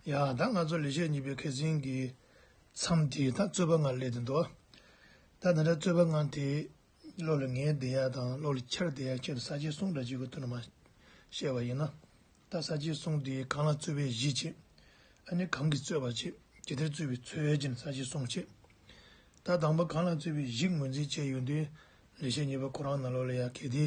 ཡང་ད་ང་ཚོ་ལས་བྱེད་གཉིས་པའི་མཁས་ཟིན་གྱི་མཚམས་དེ་ད་རྩོད་པ་ལྔ་སླེབས་ཟིན་འདུག་ད་ད་ལྟ་རྩོད་པ་ལྔ་དེ་བློ་ལ་ངེས་བསྡད་ཡ་དང་བློ་ལ་འཁྱེར་བསྡད་ཡ་ཁྱེད་ལ་ས་བཅད་གསུང་འདྲ་བྱེད་དགོས་ཐུག་ན་མ་བཤད་པ་ཡིན་ན། ད་ས་བཅད་གསུང་དེ་གང་ལ་རྩོད་པའི་གཞི་བྱེད། ཨ་ནི་གང་གིས་རྩོད་པ་བྱེད་ཇི་ལྟར་རྩོད་པའི་ཚོད་ཀྱིན་ས་བཅད་གསུང་བྱེད། ད་དང་པོ་གང་ལ་རྩོད་པའི་གཞི་ངོས་འཛིན་བྱས་ཡོད་དུས་ལས་བྱེད་གཉིས་པ་ཁོ་རང་ན་བློ་ལ་ཡ་གད་དེ།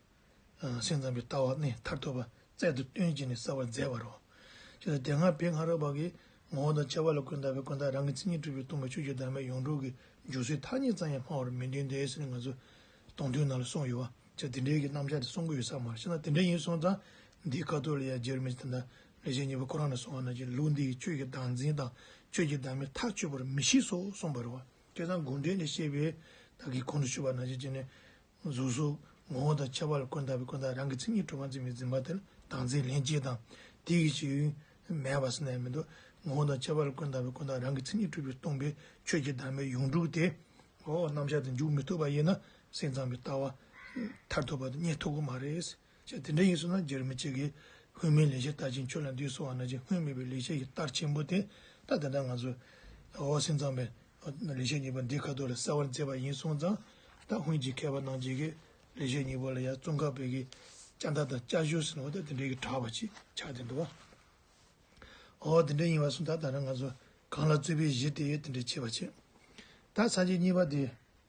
སེམས་ཙམ་པའི་ལྟ་བ་ནི་མཐར་ཐུག་པ་རྩལ་དུ་སྟོན་བྱེད་ནི་བསལ་བར་མཛད་པར་རོ། ཅེས་པ་སྟེ་སྔར་བོད་སྔ་རོལ་པ་གྱི་ངོ་བོ་དང་བཅས་པ་ལ་ཀུན་དགའ་བོས་ཀུན་བརྟགས་རང་གི་མཚན་ཉིད་གྲུབ་པའི་སྟོང་པའི་ཆོས་ཀྱི་བདག་མེད་ཡོངས་གྲུབ་ཀྱི་འཇུག་སའི་ཐ་སྙད་ཙམ་ཡང་སྨྲ་བར་མི་འདོད་འདས་ཟེར་ང་ཚོས་སྟོང་ཐུན་ནང་ལ་གསུངས་ཡོད་བ་ཆ་འདི་འདྲའི་གི་རྣམ་གཞག་དེ་གསུང་གི་ཡོད་ས་མ་རེད་ཤེ་ན་དེ་འདྲ་ཡིན་གསུངས་ཙང་འདིའི་ཀ་ཏོ་ལི་ཡ་ཇེར་མི་ཏི་ན་ལི་ཞེས་གཉིས་པོ་ཁོ་རང་ནས་གསུངས་བ་ན་ཀྱི་ལུགས་འདིས་ཆོས་ཀྱི་བདག་འཛིན་དང་ཆོས་ཀྱི་བདག་མེད་ཐག་ཆོད་པར་མི་ཤེས་སོ་གསུངས་པར་རོ། ཀྱེ་ད་དགོངས་འགྲེལ་ནས་བཤད་པའི་དག་གིས་གོང་དུ་ཞུས་པ་ན་ཀྱི་ནི་གཟུགས་སོགས་ངོ་བོ་དང་ཁྱད་པར་ལ་ཀུན་བརྟགས་པའི་ཀུན་བརྟགས་རང་གི་མཚན་ཉིད་གྲུབ་པར་འཛིན་པའི་འཛིན་པ་དེ་ལ་དང་ཚེ་ལྷན་སྐྱེས་དང་དེའི་གཞི་ཡུལ་མེད་པར་སེམས་ནས་མི་འདོད། ངོ་བོ་དང་ཁྱད་པར་ལ་ཀུན་བརྟགས་པའི་ཀུན་བརྟགས་རང་གི་མཚན་ཉིད་གྲུབ་པའི་སྟོང་པའི་ཆོས་ཀྱི་བདག་མེད་ཡོངས་གྲུབ་སྟེ། རྣམ་གཞག་དེ་འཇུག་མི་ཐུབ་པ་ཡིན་ན་སེམས་ཙམ་གྱི་ལྟ་བ་མཐར་ཐུག་པ་དེ་རྙེད་ཐུབ་ཀྱི་མ་རེད། ཅེས་དེ་འདྲ་ཡིན་སོང་ན་རྒྱལ་མི་ཅིག་གིས་སྔོན་མའི་ལེགས་ཆ་ལྟ་ཅིང་ཁྱོད་ལ་འདུས་སོང་བ་ན་ཅིག་སྔོན་མེད་པའི་ལེགས་ཆ་ཞིག་ལྟར་ཆེན་པོ་དེ་ལྟ་དེ་ལྟར་ང་ཚོས་ཨོ་སིན་ཙང་པའི་ལེགས་བཤད་སྙིང་པོ་འདི་ཁ་ཐུག་ལ་གསལ་བར་མཛད་པ་ཡིན་སོང་ཙང་ད་སྔོན་གྱི་མཁས་པ་རྣམས་ཀྱིས་ཀྱི་ལེགས་བཤད་སྙིང་པོ་ལ་ཡང་ཙོང་ཁ་བོད་ཀྱི་ལྕགས་མདའ་དང་ལྕགས་གཞུ་ཟེར་ནོ་ད་དེ་འདྲའི་གྱི་གྲགས་པ་ཅིག་ཆགས་ཏེ་འདུག་ཨོ་དེ་འདྲ་ཡིན་བ་སོང་ད་ད་ནི་ང་ཚོ་གང་ལ་རྩོད་པའི་གཞི་དེ་ཡོད་དེ་འདྲའི་བྱེད་པ་བྱེད་ད་ཚར་གྱི་གཉིས་པ་དེ།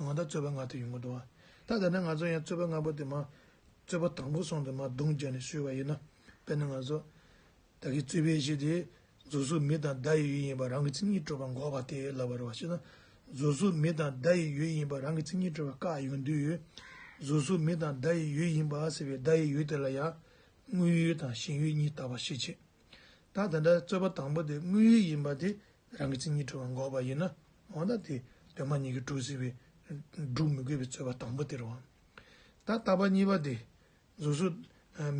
ང་དང་རྩོད་པ་ང་དེ་ཡོང་གི་འདུག་བ། ད་ལྟ་ནི་ང་ཚོ་ཡང་རྩོད་པ་ལྔ་པོ་དེ་མ། རྩོད་པ་དང་པོ་སོང་དེ་མ་རྡུང་རྒྱག་ནས་ཤོད་བ་ཡིན་ན། དཔེར་ན་ང་ཚོ། བདག་གིས་རྩོད་པའི་གཞི་དེ། རྫུ་གཟུགས་མི་དང་བདག་ཡི་ཡུལ་ཡིན་པ་རང་གི་མཚན་ཉིད་སྤྲོས་པ་འགོག་པ་དེ་ལབ་པར་བ་ཤེས་ན། རྫུ་གཟུགས་མི་དང་བདག་ཡི་ཡུལ་ཡིན་པ་རང་གི་མཚན་ཉིད་སྤྲོས་པ་བཀག་ཡོང་དུས། རྫུ་གཟུགས་མི་དང་བདག་ཡི་ཡུལ་ཡིན་པ་ཟེར་བའི་བདག་ཡི་ཡུལ་དེ་ལ་ཡང། དངོས་ཡུལ་དང་ཞེན་ཡུལ་གཉིས་བཏགས་པ་ཤེས་ཆེ། ད་དེ་འདྲ་རྩོད་པ་དང་པོ་དེ་དངོས་ཡུལ་ཡིན་པ་དེ་རང་གི་མཚན་ཉིད་གྲུབ་པར་འགོག་པ་ཡིན་ན་འོ་ན་དེ་གདོད་མ་ཉིད་ཀྱིས་གྲུབ་སྲིད་པས་བསྒྲུབ་མི་དགོས་པའི་རྩོད་པ་དང་པོ་དེར་འོང། ད་ལྟ་བ་གཉིས་པ་དེ། གཟུགས་སུ།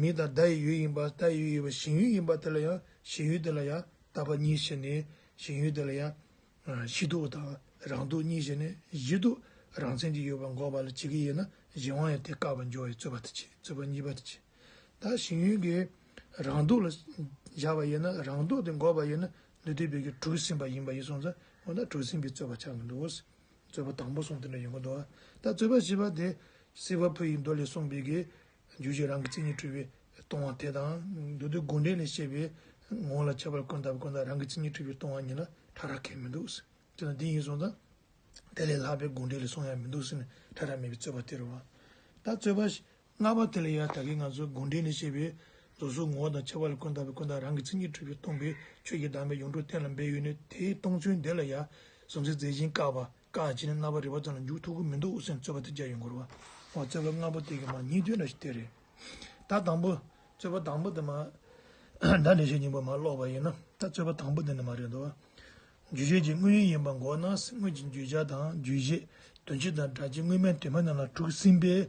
མིང་དང་བརྡ་ཡི་ཡུལ་ཡིན་པ་བརྡ་ཡི་ཡུལ་ཡིན་པ་ཞེན་ཡུལ་ཡིན་པ་དེ་ལ་ཡང་ཞེན་ཡུལ་དེ་ལ་ཡང་ལྟ་བ་གཉིས་ཞེན་ནས་ཞེན་ཡུལ་དེ་ལ་ཡང། གཞི་དུག་དང་རང་དུག་གཉིས་ཞེན་ནས་གཞི་དུག་རང་མཚན་གྱིས་ཡོད་པར་འགོག་པ་ལ་བྱེད་ཀྱི་ཡོད་ན་གཞན་དབང་ཡང་དེ་བཀག་པར་འགྱུར་བའི་རྩོད་པ་དེ་བྱེད་རྩོད་པ་གཉིས་པ་དེ་བྱེད། ད་ཞིང་ཡུལ་གྱི་རང་སྡུག་ལ་བཞག་པ་ཡིན་ན་རང་སྡུག་དེ་འགོག་པ་ཡིན་ན་ནུས་མཐུ་བོད་ཀྱི་གྲུ་ཟིན་པ་ཡིན་པ་ཡིན་སོང་ཙང་འོ་ན་གྲུ་ཟིན་པའི་རྩོད་པ་ཆགས་མི་འདུག་གོ། རྩོད་པ་དང་པོ་སོང་དེ་འདྲ་ཡོད་མ་འདུག་ད་རྩོད་པ་བཞི་པ་དེ་སྲིད་པ་ཕུ་ཡི་མདོ་ལས་གསུངས་པའི་གི་རྒྱུད་ཀྱི་རང་གི་མཚན་ཉིད་འཁྲུལ་པའི་སྟོང་བ་དེ་དང་མདོ་སྡེ་དགུ་འབྲེལ་ལས་བཤད་པའི་ངོ་ལ་ཁྱབ་པར་ཀུན་བཏགས་པ་ཀུན་བཏགས་རང་གི་མཚན་ཉིད་འཁྲུལ་པའི་སྟོང་བ་ཉིད་ལ་ཕྲ་རགས་ཁེགས་མི་འདུག་དེ་དང་དེ་ཡིན་སོང་ཙང་དེ་ལས་ལྷག་པའི་དགུ་འབྲེལ་ལས་གསུངས་ཡ་མི་འདུག་ཟེར་ནས་ཕྲ་རགས་མེད་པའི་རྩོད་པ་དེ་རུ་བ། ད་རྩོད་པ་ལྔ་པ་དེ་ལ་ཡང་དག་གིས་ང་ཚོའི་དགོངས་འགྲེལ་ནི་ཞེས་པའི་རྫོགས་ཟུར་ངོ་བོ་དང་ཁྱད་པར་ལས་ཀུན་བརྟགས་པའི་ཀུན་བརྟགས་རང་གི་མཚན་ཉིད་འཁྲུལ་པའི་སྟོང་པའི་ཆོས་ཀྱི་གདམས་པའི་ཡོངས་གྲུབ་གཏན་ལ་འབེབས་ཡུལ་ནི་དེའི་སྟོང་ཚུལ་འདི་ལ་ཡང་གཟུང་འཛིན་རྫས་གཞན་བཀག་པ་བཀག་བྱེད་ནི་རྣ་བར་རིག་པ་ཙམ་ལ་འཇུག་ཐུག་གི་མི་འདུག་འུ་སེམས་རྩོད་པ་དེ་རྒྱ་ཡོད་འགོར་བ། འོ་རྩོད་པ་ལྔ་པོ་དེ་གི་མ་ཉིད་དོན་ལ་དེ་རེད། ད་དང་པོ། རྩོད་པ་དང་པོ་དེ་མ། ད་འགྲེལ་བྱེད་སྙིང་པོ་མ་ཀློག་པ་ཡིན་ན། ད་རྩོད་པ་དང་པོ་དེ་ནི་མ་རེད་དོ། འཇུག་བྱེད་ཀྱི་དངོས་ཡུལ་ཡིན་པ་འགོག་ན་སེམས་དངོས་ཀྱི་འགྱུས་བྱ་དང་འགྱུས་བྱེད་དོན་སྤྱི་དང་སྒྲ་སྤྱི་དངོས་མེད་དོན་མེད་རྣམས་ལ་དྲུག་ཟིན་པས།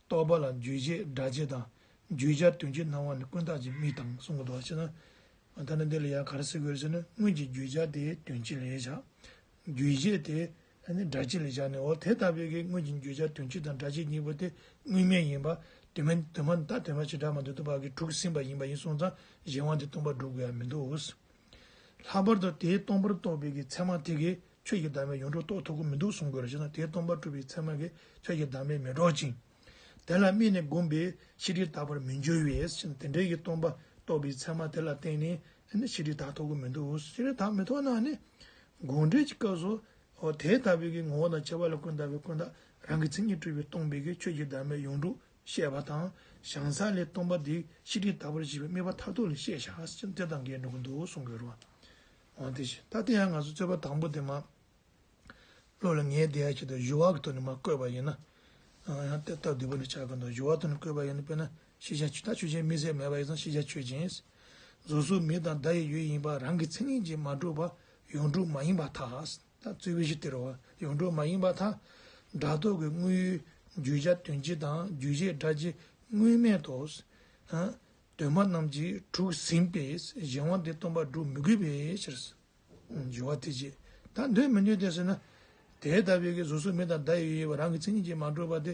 རྟོག་པ་ལ་འགྱུས་བྱེད་སྒྲ་བྱེད་དང་འགྱུས་སྦྱར་དོན་གྱི་སྣང་བ་ནི་ཀུན་བརྟགས་ཀྱི་དམིགས་དང་གསུམ་གོ་དོགས་ཕྱེ་ན། ད་ནི་འདི་ལ་ཡང་གར་སེལ་དགོས་ཟེར་ན་སྔོན་གྱི་འགྱུས་སྦྱར་དེ་དོན་སྤྱི་ལས་བྱ། འགྱུས་བྱེད་དེ་སྒྲ་སྤྱི་ལས་བྱ་ནི་འོ་དེ་ལྟ་བས་ཀྱི་སྔོན་གྱི་འགྱུས་སྦྱར་དོན་སྤྱི་དང་སྒྲ་སྤྱི་གཉིས་པོ་དེ་དངོས་མེད་ཡིན་པ་དུ་མ་ད་དོན་སྤྱི་སྒྲ་མ་དུ་དུ་བ་གི་དྲུག་ཟིན་པ་ཡིན་པ་ཡིན་གསུངས་ཙང་གཞན་དབང་དེ་སྟོང་པར་སྒྲུབ་དགོས་ཡ་མི་འདུག། ལྷག་པར་དུ་དེའི་སྟོང་པར་རྟོགས་པའི་གི་ཚད་མ་དེ་གས་ཆོས་ཀྱི་བདག་མེད་ཡོངས་གྲོགས་རྟོགས་ཐུབ་ཀྱི་མི་འདུག་གསུང་དགོས་ར་ཞེ་ན་དེའི་སྟོང་པར་གྲུབ་པའི་ཚད་མ་གས་ཆོས་ཀྱི་བདག་མེད་མི་སྒྲོག་ཅིང། དེ་ལ་སྨིན་ནས་བསྒོམས་པས་ཤེས་སྒྲིབ་དག་པར་མི་འགྱུར་བས་ཞེ་ན་དེ་འདྲའི་གི་སྟོང་པར་རྟོགས་པའི་ཚད་མ་དེ་ལ་བརྟེན་ནས་ཤེས་སྒྲིབ་དག་ཐོགས་ཀྱི་མི་འདུག་ཤེས་སྒྲིབ་དག་མི་ཐོགས་ན་ནི། དགོངས་འགྲེལ་གྱི་སྐབས་སུ། དེ་ལྟ་བུའི་གི་ངོ་བོ་དང་བྱེད་པ་ལ་ཀུན་བརྟགས་པའི་ཀུན་བརྟགས་རང་གི་མཚན་ཉིད་སྤྲུལ་པའི་སྟོང་པའི་གི་ཆོས་ཀྱི་བདག་མེད་ཡོངས་གྲུབ་བཤད་པ་དང་བྱང་ས་ལས་སྟོང་པ་འདི་ཤི་ཁྲིའི་ལྟ་བར་བགྱིད་པའི་དམིགས་པ་མཐར་ཐུག་ལ་བཤད་བྱ་ཅི་འདི་དང་འགལ་འགྲོ་གི་འདུག་གསུང་དགོས་རུང་བ། དེ་བཞིན་ད་ལྟ་ཡང་ང་ཚོ་རྩོད་པ་དང་པོ་དེ་མ་ཀློག་ལ་ངའི་བདེ་ཡག་བྱེད་དང་བཞུ་བ་གི་ཐོག་ནས་མ་བཀོད་པ་ཡིན་ན། ཡང་དེ་ལྟར་བསྡུས་པ་ལས་བྱ་གི་འདུག་བཞུ་བ་ཐོག་ནས་བཀོད་པ་ཡིན་ན་དཔེར་ན་ཤེས་བྱ་ཆོས་ད་ཆོས་ཅན་མི་ཟེར་མེད་པ་ཡིན་ཙང་ཤེས་བྱ་ཆོས་ཅན། རྫོགས་ཟུར་མི་དང་བརྡ་ཡི་ཡུལ་ཡིན་པ་རང་གི་མཚན་ཉིད་ཀྱིས་མ་གྲུབ་པ་ཡོངས་གྲུབ་མ་ཡིན་པ་དག། ད་རྩོད་གཞི་དེར་བ་ཡོངས་གྲུབ་མ་ཡིན་པ་དང་སྒྲ་རྟོག་གི་དངོས་ཡུལ་རྒྱུ་བྱ་དོན་སྤྱི་དང་རྒྱུ་བྱེད་སྒྲ་སྤྱི་དངོས་མེད་དོ། གདོད་མ་རྣམས་ཀྱིས་དྲུག་ཟིན་པས་གཞན་དབང་དེ་སྟོང་པར་སྒྲུབ་མི་དགོས་པའི་ཕྱིར། སྦྱོར་བ་དེ་རྗེས་ད་འདོད་མི་འདོད་དེ་ཟེར་ན། དེ་ལྟ་བུའི་གཟུགས་སོགས་མི་དང་སྒྲ་ཡི་དབྱེ་བ་རང་གི་མཚན་ཉིད་ཀྱིས་མ་གྲུབ་པ་དེ་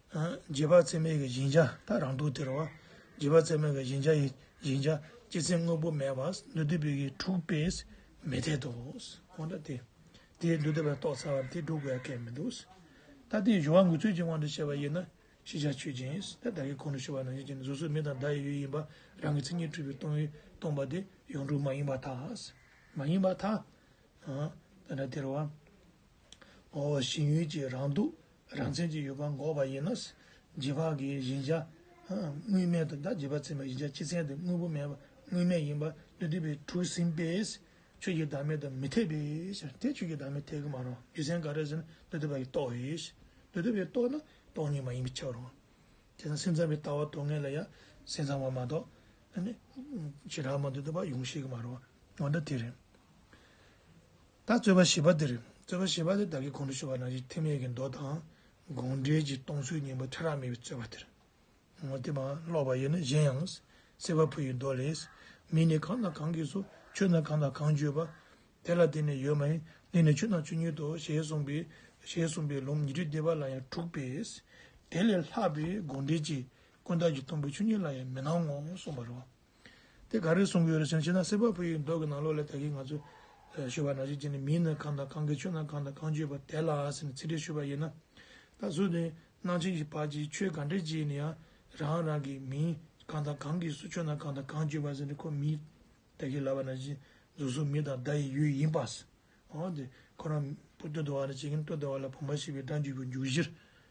རྗེས་དཔག་ཚད་མའི་བཞིན་བྱ་དག་རང་དུ་སྟེར་བ། རྗེས་དཔག་ཚད་མའི་བཞིན་བྱ་ཡི་བཞིན་བྱ་སྤྱི་མཚན་དངོས་པོ་མེད་པ་འདུས་སྡེ་པའི་དྲུག་པས་མི་འཐད་དོ། གང་ལྟར་དེས་འདུས་སྡེ་པར་རྟོགས་ཚར་བ་དེ་དྲུག་པའི་སྐད་མི་འདུག། ད་ལྟའི་གཞུང་བ་འགུལ་ཚུལ་གྱི་དབང་དུ་བྱས་པ་ཡིན་ན་ཤེས་བྱ་ཆོས་ཅན། ད་ལྟའི་གོང་དུ་ཞུས་པ་ནང་བཞིན་གྱི་གཟུགས་སོགས་མི་དང་བདག་ཡི་ཡུལ་ཡིན་པ་རང་གི་མཚན་ཉིད་འཁྲུལ་པའི་སྟོང་ཡུལ་སྟོང་པ་དེ་ཡོངས་གྲུབ་མ་ཡིན་པ་དག་མ་ཡིན་པ་དག། ད་ལྟར་སྟེར་བ། ངོ་བོ་ཞིང་ཡུལ་གྱི་རང་སྡུག་རང་མཚན་གྱི་ཡུལ་ཁམས་འགོག་པ་ཡིན་ནོ། རྗེས་དཔག་གི་བཞིན་བྱ། དངོས་མེད་དུ་བདག་བྱེད་པ་ཚིམ་པའི་བཞིན་བྱ་སྤྱི་མཚན་དུ་དངོས་པོ་མེད་པ་དངོས་མེད་ཡིན་པ་འདི་བསྡུས་པའི་དྲུག་ཟིན་པས། ཆོས་ཀྱི་བདག་མེད་དུ་མི་འཐད་པས། དེ་ཆོས་ཀྱི་བདག་མེད་འཐད་ཀྱི་མ་རུང་རྒྱུ་མཚན་ག་རེ་ཟིན་འདི་བསྡུས་པ་ཡིས་རྟོགས་ཡོད། འདི་བསྡུས་པས་རྟོགས་ན་སྟོང་ཉིད་མ་ཡིན་པའི་ཕྱིར་རོ། དེ་དང་སེམས་ཚང་བའི་ལྟ་བ་སྡུག་བསྔལ་ལ་ཡང་སེམས་ཚང་བ་མ་གཏོགས། ཇི་ལྟར་མ་འདི་བསྡུས་པ་ཡོངས་ཤེས་ཀྱི་མ་རུང་བ་འདི་དེ་རེད། ད་རྩོད་པ་བྱེད་པ་འདིར་རྩོད་པ་བྱེད་པ་དེ་བདག་གིས་གོང་དུ་ཞུས་པ་ནང་བཞིན་ཐེམ་ཡིག་གི་མདོ་དང་དགོངས་འགྲེལ་གྱི་སྟོང་ཚུལ་སྙིང་པོ་ཕྲ་རགས་མེད་པའི་རྩོད་པ་དེར་ངོ་དེབ་འང་ཀློག་པ་ཡིན་ན་གཞན་ཡང་གསེར་བ་ཕུ་ཡི་མདོ་ལས། མི་ནི་གང་དང་གང་གིས་སོ་ཆོས་རྣམས་གང་དང་གང་བརྗོད་པ། དེ་ལ་བརྟེན་ནས་ཡོད་མ་ཡིན་ལས་ནི་ཆོས་རྣམས་ཆོས་ཉིད་དོ་ཞེས་གསུངས་པས་ཞེས་གསུངས་པའི་ལུང་ཉི་ཁྲི་སྡེ་པ་ལ་ཡང་འཁྲུགས་པས། དེ་ལས་ལྷག་པའི་དགོངས་འགྲེལ་གྱིས་ཀུན་བཏགས་ཀྱི་དང་པོའི་ཆོས་ཉིད་ལ་ཡང་མི་སྣང་ངོ་གསུངས་པར་རོ། དེ་ག་རེ་གསུང་གི་ཡོད་རེད་ཟེར་ན་ཕྱི་ནང་གསེར་ཕག་ཕུལ་ཡོད་མདོག་གི་ནང་ལོགས་ལས་ད་གིན་ང་ཚོ་ཞུ་བ་ནང་བཞིན་བྱས་ནས་མིའི་ནང་གང་དང་གང་གིས་ཆོས་ནང་གང་དང་གང་བརྗོད་པ་དེ་ལ་ཟེར་ནས་ཚིག་འགྲེལ་ཞུ་བ་ཡིན་ན། ད་གཟོད་དེ་སྣང་ཆེན་གྱི་བར་གྱི་ཆོས་ག་འགྲེལ་བྱས་ནས་ཡང་རང་རང་གིས་མིའི་གང་དང་གང་གིས་སུ་ཆོས་ནང་གང་དང་གང་བརྗོད་པ་ཟེར་ནས་ཁོ་མིའི་ད་གིན་ལབ་པ་ནང་བཞིན་རྫུན་བཟོ་མི་དང་བརྡ་ཡི་ཡུལ་ཡིན་པ། འོ་དེ་ཁོ་རང་བུ་སྟོད་དུ་བ་ལ་བྱེད་ཀྱིན་སྟོད་དུ་བ་ལ་བུ་མ་ཤི་བའི་སྒྲ་འཇུག་གི་འཇུག་གཞིར་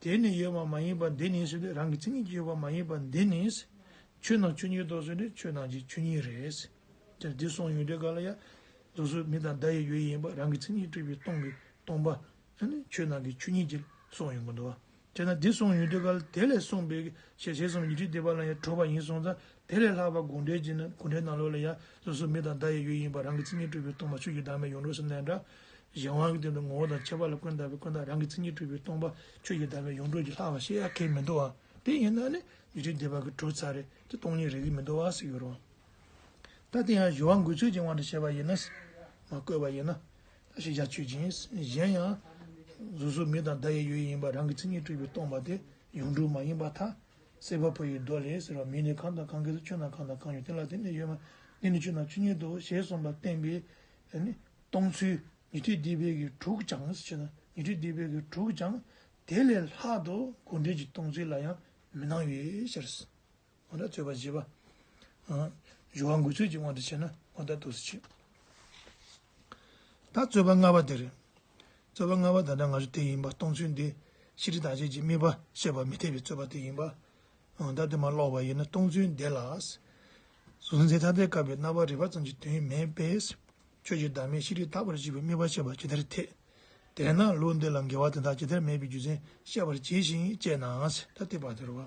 དེ་ནི་ཡོད་པ་མ་ཡིན་པ་འདི་ནི་ཟེར་ཏེ་རང་གི་མཚན་ཉིད་ཀྱི་ཡོད་པ་མ་ཡིན་པ་འདི་ནི། ཆོས་ནང་ཆོས་ཉིད་དོ་ཟེར་ཏེ་ཆོས་ནང་གི་ཆོས་ཉིད་རེད། ཟེར་ཏེ་འདི་སོང་ཡོད་དེ་ག་ལ་ཡ། རྫོགས་ཚོད་མི་དང་བརྡ་ཡི་ཡོད་ཡིན་པ་རང་གི་མཚན་ཉིད་སྤྲུལ་པའི་སྟོང་གིས་སྟོང་པ། ཆོས་ནང་གི་ཆོས་ཉིད་ཀྱི་སོང་ཡོད་མི་འདུག་བ། དེས་ན་འདི་སོང་ཡོད་དེ་ག་ལ་དེ་ལས་གསུངས་པའི་ཞལ་ཞལ་གསུམ་ཉི་ཁྲི་བདེ་བ་ལ་ཡང་གྲོལ་བ་ཡིན་སོང་ཙང་དེ་ལས་ལྷག་པར་དགོངས་འགྲེལ་གྱིས་ནི་དགོངས་འགྲེལ་ནང་ལོགས་ལ་ཡང་སོ་སོའི་མིག་དང་བརྡ་ཡི་ཡུལ་ཡིན་པར་རང་གི་མཚན་ཉིད་སྤྲུལ་པའི་སྟོང་པ་ཆོས་ཀྱི་བདག་མེད་ཡོངས་གྲུབ་སེམས་ལས་འདས། གཞན་དབང་གི་སྟེང་དུ་ངོ་བོ་དང་ཁྱད་པར་ལ་ཀུན་བཏགས་པའི་ཀུན་བཏགས་རང་གི་མཚན་ཉིད་སྤྲུལ་པའི་སྟོང་པ་ཆོས་ཀྱི་བདག་མེད་ཡོངས་གྲུབ་ཀྱི་ལྷག་པར་ཤེས་ཡ་གལ་མི་འདུག་ཨང། དེ་ཡིན་ན་ནི་ཡུལ་ཕྱིར་འདས་པ་གི་གྲུབ་ཚར་རེད་ཀྱི་སྟོང་ཉིད་རེད་ཀྱི་མི་འདུག་ཨང་ཟེར་གྱི་རུང། ད་དེ་ཡང་གཞོལ་བ་འགུལ་ཚོད་ཀྱི་དབང་དུ་བྱས་པ་ཡིན་ན། མ་བཀོད་པ་ཡིན་ན། ད་ཤེས་བྱ་ཆོས་ཅན། གཞན་ཡང། སོ་སོའི་མིག་དང་བརྡ་ཡི་ཡུལ་ཡིན་པར་རང་གི་མཚན་ཉིད་སྤྲུལ་པའི་སྟོང་པ་དེ་ཡོངས་གྲུབ་མ་ཡིན་པ་ཐ། སེར་བ་བུ་ཡི་རྡོ་ལས་སེར་བ་མི་ནི་གང་དང་གང་གིས་སུ་ཆོད་ན་གང་དང་གང་ཡོད་དེ་ལ་དེ་ནི་ཡོད་མ་ནི་ནི་ཆོད་ན་ཆོད་ཉིད་དོ་ཞེས་གསུངས་པ་བསྟན་པས་ནི། སྟོང་ཚུལ་ཉི་ཁྲི་སྡེ་དཔལ་གྱི་དྲུག་སྦྱངས་སུ་བྱེད་ན་ཉི་ཁྲི་སྡེ་དཔལ་གྱི་དྲུག་སྦྱངས། དེ་ལས་ལྷག་ཏུ་དགོས་འབྲེལ་གྱི་སྟོང་ཚུལ་ལ་ཡང་མི་སྣང་བའི་ཕྱིར། ཨོ་རྩོད་པ་བྱེད་པ། བཞུ་བ་འགུལ་ཚུལ་གྱི་དབང་དུ་བྱས་ན་ཨོ་ད་དུ་སུ་བྱེད། ད་རྩོད་པ་ལྔ་པ་དེ་རེད། རྩོད་པ་ལྔ་པ་ད་ལྟ་ང་ཚོ་དེ་ཡིན་པ་སྟོང་ཚུལ་འདི་ཕྱི་དྲིལ་བདག་གཅེས་ཀྱི་དམིགས་པ་བསལ་བར་མི་འཐད་པའི་རྩོད་པ་དེ་ཡིན་པ། ད་དེ་མ་ཀློག་པ་ཡིན་ན་སྟོང་ཚུལ་འདི་ལ། གཟུགས་མཛེས་ཐ་དད་བཀབ་པའི་རྣ་བར་རེག་པ་ཙམ་གྱི་དོན་མེད་པས། ཁྱོད་ཀྱིས་བདག་མེད་ཕྱི་དྲིལ་དག་པར་བྱེད་པའི་དམིགས་པ་བཤད་པ་ཇི་ལྟར་འཐད། དེས་ན་ལུགས་འདི་ལ་འགལ་བ་དེ་དག་ཇི་ལྟར་མེད་པའི་རྒྱུ་མཚན་བཤད་པར་བྱས་ཤིང་དཔྱད་ན་ད་དེ་བར་དོ་རུ་བ།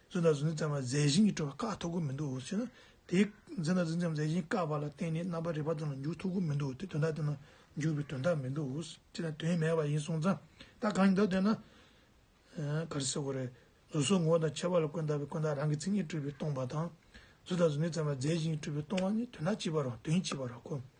རྫུན་དང་རྫུན་ཙམ་ལ་རྫས་བཞིན་གྱིས་སྤྲོ་བར་བཀག་ཐུབ་ཀྱི་མི་འདུག་ཟེར་ན། དེས་རྫུན་དང་རྫུན་ཙམ་རྫས་བཞིན་བཀག་པ་ལ་བརྟེན་ནས་རྣམ་པར་རིག་པ་དོན་ལ་འཇུག་ཐུབ་ཀྱི་མི་འདུག་སྟེ་དོན་དག་དོན་ལ་འཇུག་པའི་དོན་དག་མི་འདུག་ཅེ་ན་དོན་མེད་པ་ཡིན་གསུངས་ཙང་ད་གང་ཡིན་འདོད་དོན་ན། ག་རེ་ཟེར་དགོས་རེད། གཟུགས་སོགས་ངོ་བོ་དང་ཁྱད་པར་ལ་ཀུན་བརྟགས་པའི་ཀུན་བརྟགས་རང་གི་མཚན་ཉིད་སྤྲུལ་པའི་སྟོང་པ་དང། རྫུན་དང་རྫུན་ཙམ་ལ་རྫས་བཞིན་གྱིས་སྤྲུལ་པའི་སྟོང་བ་ནི་དོན་དག་གཅིག་པར་རོ་དོན་གཅིག་པར་རོ་གོ།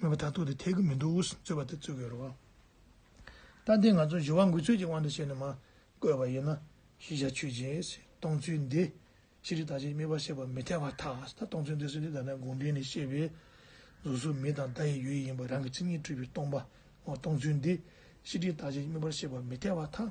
མོས་པ་དག་ཐུག་དེ་ཐེག་གི་མི་འདུག་རྩོད་པ་དེ་རྩོད་དགོས་རོགས། ལྟ་འདི་ང་ཚོ་བཞི་བ་འགུལ་ཚོད་ཀྱི་དབང་དུ་བྱས་ནས་མ་བཀོད་པ་ཡིན་ན་གཞི་བྱ་ཆོས་ཅན། སྟོང་ཚུལ་འདི། ཅི་རིགས་དག་ཅིང་དམིགས་པ་ཤེས་པ་མི་འཐད་པ་དག་ད་སྟོང་ཚུལ་འདི་གསོལ་འདེབས་དག་ན་དགོངས་འགྲེལ་ནས་བཤད་པའི། གཟུགས་སོགས་མི་དང་བརྡ་ཡི་ཡུལ་ཡིན་པ་རང་གི་མཚན་ཉིད་སྤྲུལ་པའི་སྟོང་པ་ངོ་སྟོང་ཚུལ་འདི། ཅི་རིགས་དག་ཅིང་དམིགས་པ་ཤེས་པ་མི་འཐད་པ་དག།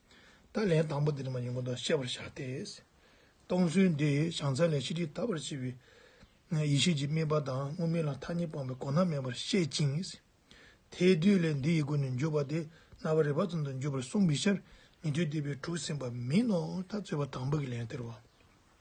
ད་ལན་དང་པོ་འདི་ནི་མ་ཡིན་གོ་དོན་ཤེས་པར་བྱ་སྟེ། སྟོང་ཚུལ་འདི་བྱང་ཚད་ལས་ཕྱི་དྲིལ་དག་པར་བྱེད་པའི། ཡེ་ཤེས་ཀྱི་དམིགས་པ་དང་དངོས་མེད་ལ་མཐའ་གཉིས་སྤངས་པའི་གོ་ན་མེད་པར་བཤད་ཅིང། དེས་བསྡུས་ལས་འདི་ཡི་སྒོ་ནས་འཇུག་པ་སྟེ་རྣ་བ་རེག་པ་ཙམ་དུ་འཇུག་པར་གསུངས་པའི་ཕྱིར་ཉན་ཐོས་སྡེ་པའི་དྲུག་ཟིན་པ་མིན་ནོ་ད་རྩོད་པ་དང་པོ་གི་ལན་སྟེར་བ།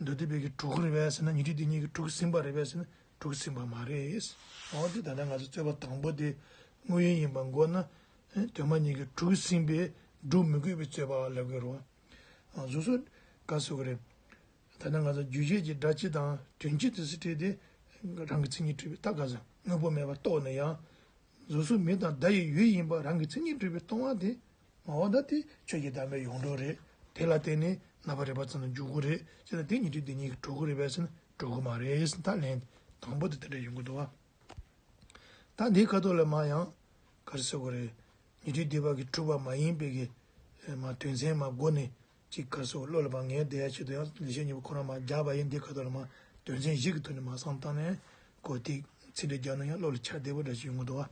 འདོད་དེ་བོད་ཀྱི་དྲུག་གི་རེད་བས་ཟེར་ན་ཉི་ཁྲི་འདི་གཉིས་ཀྱི་དྲུག་ཟིན་པ་རེད་བས་ཟེར་ན་དྲུག་ཟིན་པ་མ་རེད། འོ་དེ་ད་ལྟ་ང་ཚོས་རྩོད་པ་དང་པོ་དེ་དངོས་ཡོད་ཡིན་པ་འགོག་ན། དོན་མ་ཉིད་ཀྱི་དྲུག་ཟིན་པས་སྒྲུབ་མི་དགོས་པའི་རྩོད་པ་ལབ་དགོས་རོགས། གཟུགས་སོགས་འགའ་བཟོ་གི་རེད། ད་ལྟ་ང་ཚོ་རྒྱུ་གཞས་ཀྱི་སྒྲ་སྤྱི་དང་དོན་སྤྱི་དུ་སི་ཁྲེལ་ཏེ། རང་གི་མཚན་ཉིད་སྤྲོས་པའི་རྟགས་འགའ་ཟ་དངོས་པོ་མེད་པར་རྟོགས་ནས་ཡང། གཟུགས་སོགས་མི་དང་བརྡ་ཡི་ཡུལ་ཡིན་པ་རང་གི་མཚན་ཉིད་སྤྲོས་པའི་སྟོང་བ་དེ་མ་འོངས་ད་དེ་ཁྱོད་ཀྱི་བདག་མེད་ཡོངས་གྲོལ་རེད། དེ་ལ་བརྟེན་ནས་རྣ་བར་རེག་པ་ཙམ་ལ་འཇུག་གི་རེད་ཅེ་ན་དེ་ཉིད་ཀྱིས་དེ་ཉིད་ཀྱི་གྲོལ་གི་རེད་བས་ན་གྲོལ་གི་མ་རེད་ཟེར་ད་ལན། དང་པོ་དེ་དེ་འདྲ་ཡིན་དགོས་འདུག་ད་འདིའི་ཁ་དོག་ལ་མ་ཡང། གར་ཟེར་གི་རེད། ཉི་ཁྲི་དེ་བར་གྱི་འཁྲུལ་བ་མ་ཡིན་པའི་གི། མ་དོན་མཚན་མ་སྒོ་ནས་ཅིག་ཁར་སོགས་བློ་ལ་བབ་ངེས་དེའི་ཆེད་དུ་ཡང་ལེགས་བཤད་གཉིས་པོ་ཁོ་རང་མ་སྦྱར་བ་ཡིན་འདི་ཁ་དོག་ལ་མ་དོན་ཚན་བཞི་གི་ཐོག་ནས་མ་གསང་བཏང་ནས་གོ། ཏིག་ཚིག་འགྲེལ་རྒྱག་ན་ཡང་བློ་ལ་འཆར་བདེ་པོ་འདྲ་ཞིག་ཡོང་གི་འདུག་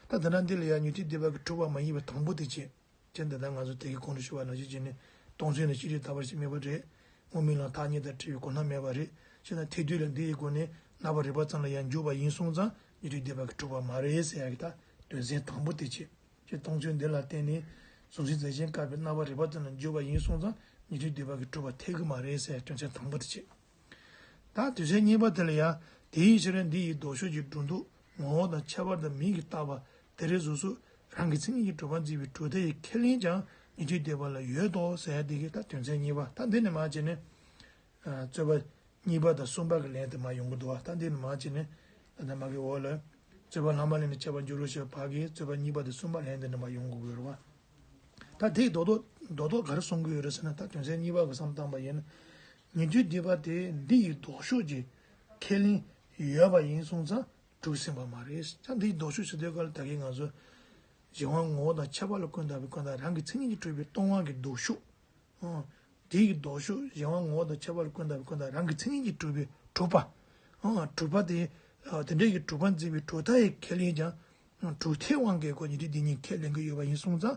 ད་དེ་འདྲ་འདི་ལ་ཡང་ཉོ་ཅིག་འདི་བར་གྱི་འཁྲུག་པ་མ་ཡིན་པ་དང་པོ་དེ་བྱེད་ཅན་དེ་དག་ང་ཚོ་དེ་གའི་ཁོང་ཁྲོ་ཞུ་བ་ནང་བཞིན་བྱས་ནས་སྟོང་ཚུལ་ནི་ཅི་རིགས་ད་བར་ཞིག་མེད་པ་རེད་སྔོ་མིན་ལ་ཐག་ཉེ་ལྟར་བྲིས་པའི་གོ་སྣང་མེད་པ་རེད་ཅེ་ན་དེ་དུས་ལ་འདི་ཡི་སྒོ་ནས་རྣ་བར་རེག་པ་ཙམ་ལ་ཡང་འགྱུར་བ་ཡིན་གསུངས་ཙང་ཉོ་ཅིག་འདི་བར་གྱི་འཁྲུག་པ་མ་རེད་ཟེར་ཡག་གི་ད་དོན་ཚན་དང་པོ་དེ་བྱེད། ཅེས་སྟོང་ཚུལ་འདི་ལ་བརྟེན་ནས་གཟུགས་གཞི་རྫས་ཆེན་བཀག་པའི་རྣ་བ་རེ་བ་ཙམ་ལ་འཇུག་པ་ཡིན་གསུངས་ཙང་ཉེ་དུས་འདོད་པ་གྱིས་གྲུབ་པ་ཐེག་དགུ་མ་རེད་ཟེར་དོན་ཚན་དང་པོ་དེ་བྱེད་དང་དུས་ཚན་གཉིས་པ་དེ་ལ་ཡང་དེ་ཡི་ཕྱིར་རན་འདི་ཡི་ལྡོག་ཕྱོགས་ཀྱི་སྒྲོ་འདོགས་ངོ་བོ་དང་ཁྱད་པར་དང་མིང་གིས་བཏགས་པ་དེ་རེ་ཟུག་སུག་རང་གི་མཚན་ཉིད་ཀྱི་གྲུབ་པ་འཛིན་པའི་གྲུབ་མཐའ་ཡི་ཁས་ལེན་ཀྱང་ཉེ་དུས་འདོད་པ་ལ་ཡོད་དོ་ཟེར་དེ་གའི་ད་དོན་ཚན་གཉིས་པ་ད་འདི་ནས་མ་བྱས་ནས། རྩོད་པ། གཉིས་པ་དང་གསུམ་པ་གི་ལན་དུ་མ་ཡོང་གི་འདུག་ཨ། ད་འདིར་མ་བྱས་ནས། ད་ནི་མ་གི་འོག་ལ། རྩོད་པ་ལྷག་མ་ལས་ནི་བྱ་བར་འགྱུར་རོ་ཞེས་པ་བར་གྱི་རྩོད་པ་གཉིས་པ་དང་གསུམ་པ་ལན་དུ་ནི་མ་ཡོང་གི་དགོས་རོ། ཨ། ད་དེས་རྡོག་རྡོག་ག་རེ་གསུང་གི་ཡོད་རེད་ཟེར་ན་ད་དོན་ཚན་གཉིས་པ་གི་བསམ་གཏམ་པ་ཡིན། ཉེ་དུས་འདི་པ་དེས་འདི་ཡི་ལྡོག་ཕྱོགས་ཀྱི་ཁས་ལེན་ཡོད་པ་ཡིན་གསུང་ཙང་གྲུབ་ཟིན་པ་མ་རེད་ཀྱང་འདི་ཡི་ལྡོག་ཕྱོགས་ཞུ་དོན་ག་ལ་ད་གིན་ང་ཚོ། གཞན་དབང་ངོ་བོ་དང་ཁྱད་པར་ལ་ཀུན་བརྟགས་པའི་ཀུན་བརྟགས་རང་གི་མཚན་ཉིད་ཀྱིས་སྤྲུལ་པའི་སྟོང་དབང་གི་ལྡོག་ཕྱོགས་དེའི་ལྡོག་ཕྱོགས་གཞན་དབང་ངོ་བོ་དང་ཁྱད་པར་ཀུན་དང་ཀུན་དང་རང་གི་མཚན་ཉིད་ཀྱི་གྲུབ་པའི་གྲུབ་པ། གྲུབ་པ་དེ་འདྲའི་གྱི་གྲུབ་པ་འཛིན་པའི་གྲུབ་མཐའ་ཡི་ཁས་ལེན་ཀྱང། གྲུབ་མཐའི་དབང་གིས་སྒོ་ཉི་ཁྲི་འདི་ཉིད་ཁས་ལེན་གྱི་ཡོད་པ་ཡིན་གསུངས་ཙང།